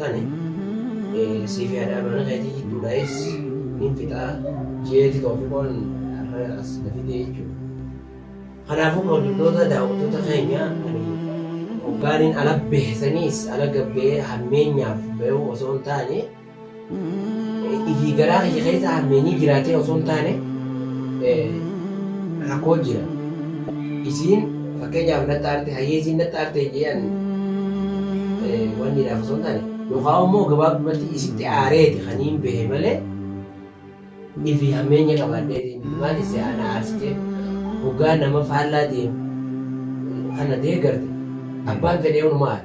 tane siifi hadhaa mana keetii jidduudhaayis nin fixaa jeeti toofiqoon har'a as na fidee jechuudha. Kanaafuu kabajamtoota daawwattoota keenya ani hoggaanin ala bahe saniis ala gabbee hammeenyaaf bahuu osoo hin taane ifii garaa kiyya keessa hammeenyi jiraatee osoo hin taane rakkoo jira. Isiin Fakkeenyaaf naxxa arte hayyeesiin naxxa arte jee ani wanniidhaaf osoo hin taane yookaan immoo gabaabdumatti isitti aareeti kan hin behe malee ifi hammeenya qabaadheeti maal isse ana aarsitee hoggaa nama faallaa deemu kana deegarte abbaan fedhee hunuma aara.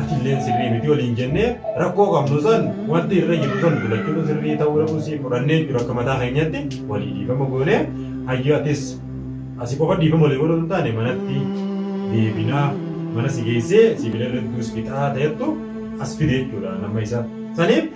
atilleen sirrii miti waliin jennee rakkoo qabnu san wanti irra jiru san gulachuun sirrii ta'uu dhabuu sii fudhannee jiru akka mataa keenyatti walii dhiifama goonee hayyu atis asi qofa dhiifama walii godhuu hin taane manatti deebinaa mana si geessee sibiila irrattuus fixaa ta'ettu as fide jechuudha nama isa saniif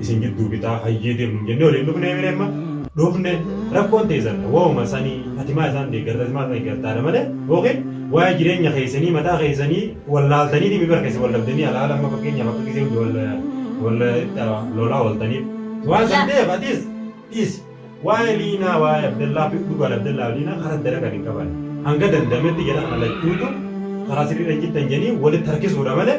isin jidduu fixaa hayyee deemnu jennee waliin dhufnee mire amma dhufne rakkoon teessan waa'uma sanii atimaa isaan deeggarta atimaa isaan deeggartaadha malee yookiin waa'ee jireenya keessanii mataa keessanii wallaaltanii dhimmi bara keessa wallabdanii alaala amma fakkeenyaaf akka gisee hundi walla lolaa ooltaniif waan san ta'eef atis dhiis waa'ee liinaa waa'ee abdallaa fi dhugaan abdallaa liinaa karaa dara kan hin qaban hanga dandametti jara kana lachuutu karaa sirriidha jittan jedhanii walitti harkisuudha malee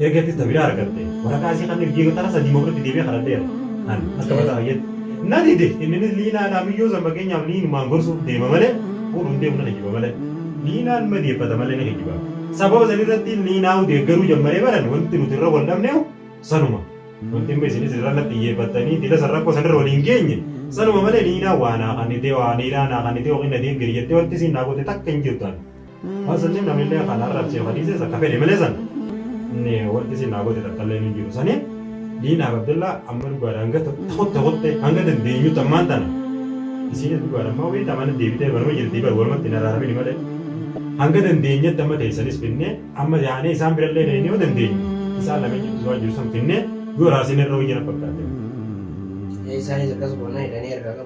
Erga ittis na biraa argatte waraqaa isii kanneen jiigotara sadii mafirratti deebi'ee kadhadheera. An akka mataa kiyyetti. Na dide inninis Liinaa Alaamiyyoo san fakkeenyaaf Liinumaan gorsuuf deema malee fuudhuun deemu na kijiba malee. Liinaan madeeffata malee ni kijiba. Sababa san irratti Liinaahu deeggaruu jammaree baran wanti nuti irra wal dhabneehu sanuma. Wanti amma isinis irra natti iyyeeffattanii dila san rakkoo san irra wal hin geenye sanuma malee Liinaan waa naa kannitee, waa hariiraa naa kannitee yookiin na deeggari jettee wanti isiin naa goote takka hin jirtu an. Waan sanniin namillee kan arrabsee ka dhiises akka fedhe malee san inni wanti isin naa goote takkallee hin jiru saniin Liinaaf Abdallaa amma dhugaadha hanga tokkotti tokkotti hanga dandeenyutti ammaan tana isiinis dhugaadha ammaa wayii tamana deebitee manuma jirtii bar walumatti hin araaramini malee hanga dandeenyetti amma teessanis finnee amma yaanee isaan birallee dheenee yoo dandeenyu isaan lameen jidduu waan jiru san finnee yoo raasin irra wayya na fakkaate. Isaanis akkas goonaa hidhanii harkaa qabu.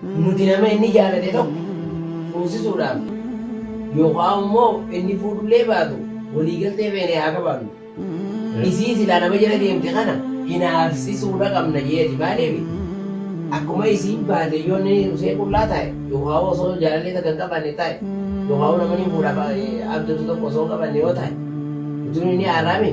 Nuti nama inni jaalate tokko fuusisuudhaaf yookaan immoo inni fuudhullee baatu waliigaltee feene haa qabaannu. Isii silaa nama jala deemte kana hinaafsisuudha qabna jeeti maaliif akkuma isiin baate yoo inni usee qullaa taa'e yookaan osoo jaalallee takka hin qabanne taa'e yookaan namni fuudhaaf abdatu tokko osoo hin qabanne yoo taa'e utuun inni haaraami.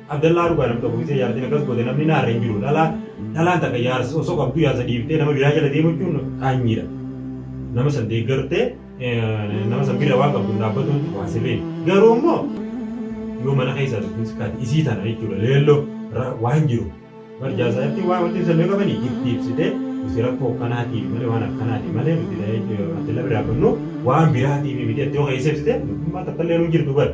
Abdallaa dhugaa nam tokko gisee jaartiin akkas goote namni naarra hin jiru dhalaa dhalaan takka jaarsa osoo qabdu jaarsa dhiiftee nama biraa jala deemu jechuun qaanyiidha nama san deeggartee nama san bira waan qabdu dhaabbatuun waan sirrii garuu immoo yoo mana keessaa dubbiin sikkaati isii tana jechuudha leelloo waan jiru bar jaarsa irratti waan wanti ibsan meeqa bani itti ibsite nuti rakkoo akkanaatiif malee waan akkanaatiif malee nuti abdallaa biraa qabnu waan biraatiif miti itti yoo keessa ibsite dubbiin waan takka illee nu jirtu bara.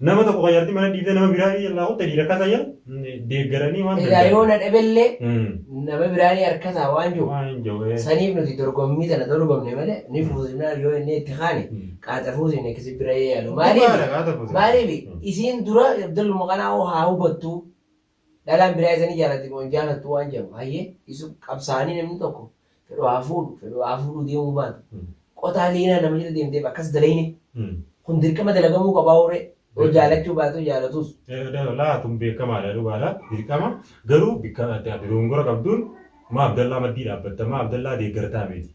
Nama tokko kan jaartii mana dhiibdee nama biraa jalaa kutte dhiira akka ta'e deeggaranii waan Egaa yoo na dhabellee Mm. nama biraa ni harkataa waan jiru. Waan hin jiru. Saniif nuti dorgommii tana dorgomne malee ni fuusifnaa yoo inni itti kaane qaaxa fuusifne kisi bira yaalu. Maaliif? Maaliif isiin dura Abdul Muqanaa hoo haa hubattu Dhalaan biraa isa ni jaalatti moo hin jaalattu waan jedhamu hayyee isu qabsaa'anii namni tokko fedhu haa fuudhu fedhu haa fuudhuu deemuu baatu. Qotaa liinaa nama jala deemteef akkas dalayne kun dirqama dalagamuu qabaa uree yoo jaalachuu baatu jaalatus. Laa kun beekamaadha dhugaadha dirqama garuu bikka dogongora qabduun maa Abdallaa maddii dhaabbatta maa Abdallaa deeggartaa miti.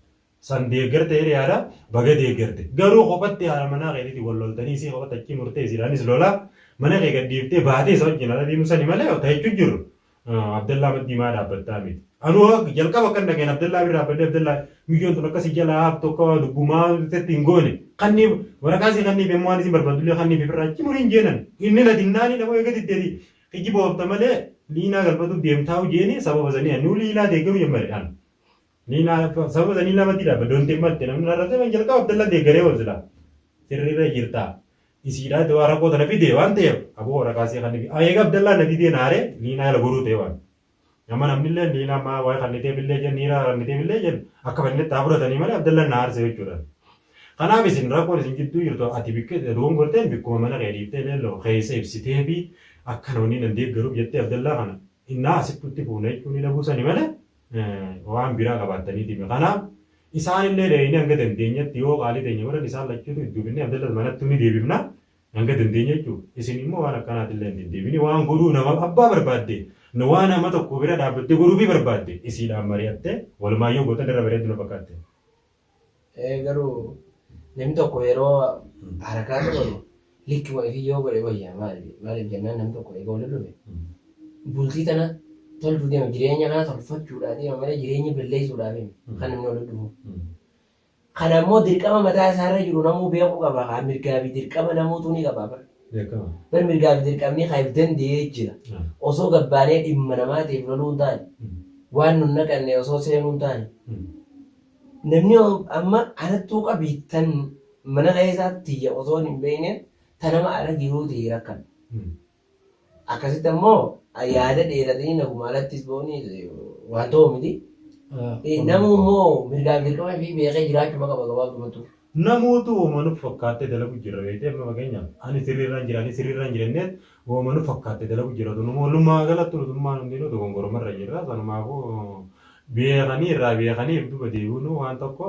san deeggarte jedhe yaada baga deeggarte garuu kophatti haala manaa keetiitiin wal loltanii isii kophatti achii murtee isiidhaanis lolaa mana kee gad dhiiftee baatee isa wajjin ala deemuu sani malee ta jechuun jirru Abdallaa maddii maa dhaabbattaa miti anuu jalqaba akkan dhageen Abdallaa bira dhaabbadhee Abdallaa miyyoon tun akkasii jala haaftu akka waa lubbuu maa tetti hin goone kanniif waraqaa isii kanniif yommuu waan isin barbaadullee kanniif ifirraa achi muriin jeenan inni na dinnaanii namoo eega diddeeti kijiba oofta malee liinaa galfatuuf deemtaa'u jeeni sababa sanii anuu liilaa deeggaruu jammare an Ni na sababa sanii nama dida ba donte matte namni na rate man jalqaba abdalla de gare wa zila sirri ra jirta isiidha de wara kota na fide wan te abo wara kasi kan bi ayega abdalla na dide na re ni na la goru te wan nama namni le ni na ma wa kan ni te bille jen ni ra ni te bille jen akka fa ni ta fura tani male abdalla na arse yo churan kana bi sin rakon sin jiddu jirtu ati bikke de duwan gorten bikku mana ke difte le lo kese ibsite fi akka no ni nan de garu jette abdalla kana inna asittu ti funa ichu ni dhabu sani male waan biraa qabaattaniitiimi. Kanaaf isaanillee dheeynee hanga dandeenyetti yoo qaalii teenya godhan isaan lachuutu itti hufinnee Abdallas manattuu ni deebifna hanga dandeenye jechuu. Isin immoo waan akkanaatillee hin deddeebini waan godhuu nama abbaa barbaadde waan nama tokko bira dhaabbattee godhuufii barbaadde isiidhaan mari'attee walumaan yoo gootan irra bareeddu na fakkaatte. Ee garuu namni tokko yeroo harakaa qabamu likkuma ifii yoo godhe wayyaa maali maaliif jennaan namni tokko egaa waliin dhufe bultii tana tolchuu deema jireenya naa tolfachuudhaa deema malee jireenya balleessuudhaaf hin kan namni waliin dhufu. Kan ammoo dirqama mataa isaarra jiru namuu beekuu qaba haa mirgaa fi dirqama namuutu ni qaba bar. Beekama. Bar mirgaa fi dirqamni kan if danda'ee jira. Ah. Osoo gabbaanee dhimma namaatiif loluu hin taane waan nun naqanne osoo seenuu hin taane Mm. Namni amma anattuu qabii tan mana keessaa tiyya osoon hin beekneen ta nama ala jiruu tahee rakkadha. Akkasitti ammoo yaada dheeratanii naguma alattis ba'uun waan ta'u miti. Namuu immoo mirgaa fi dirqama ifii beekee jiraachuma qaba gabaabdumatti. Namootu woma nutti fakkaatte dalagu jirra beektee amma fakkeenyaaf ani sirriirran jira ani sirriirran jira jenneet woma nutti fakkaatte dalagu jirra tun immoo walumaa galattu nutummaan hundinuu dogongorumarra jirra sanumaafuu beekanii irraa beekanii if duba deebi'unuu waan tokko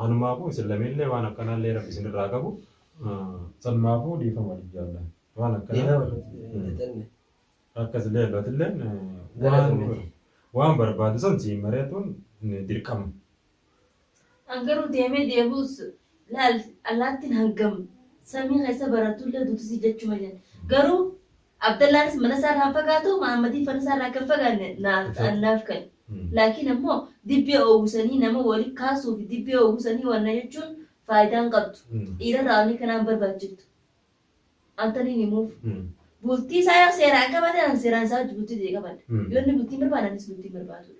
kanumaafuu isin lameenillee waan akkanaallee rabbi isinirraa qabu sanumaafuu dhiifama waliif jaalla waan akkanaa akkasillee lotilleen waan waan barbaadu san siin mari'atuun dirqama. An garuu deemee deebi'us laal allaattiin hangam samii keessa baratullee duutisii jechuma jedhe. Garuu Abdallaanis manasaarraa hin fagaatu, Mahaammadiin fanasaarraa akka hin fagaanne naaf an naaf ka'e. Laakiin ammoo dibbee oowwisanii nama wali kaasuufi dibbee oowwisanii wanna jechuun faayidaa hin qabdu. Dhiirarraa wanni kanaa hin barbaachiftu. An taniin himuuf. Bultii isaa yoo seeraan qabate an seeraan isaa wajji bultii tiyya qabadha. Yoo inni bultii hin barbaanne anis bultii hin barbaadudha.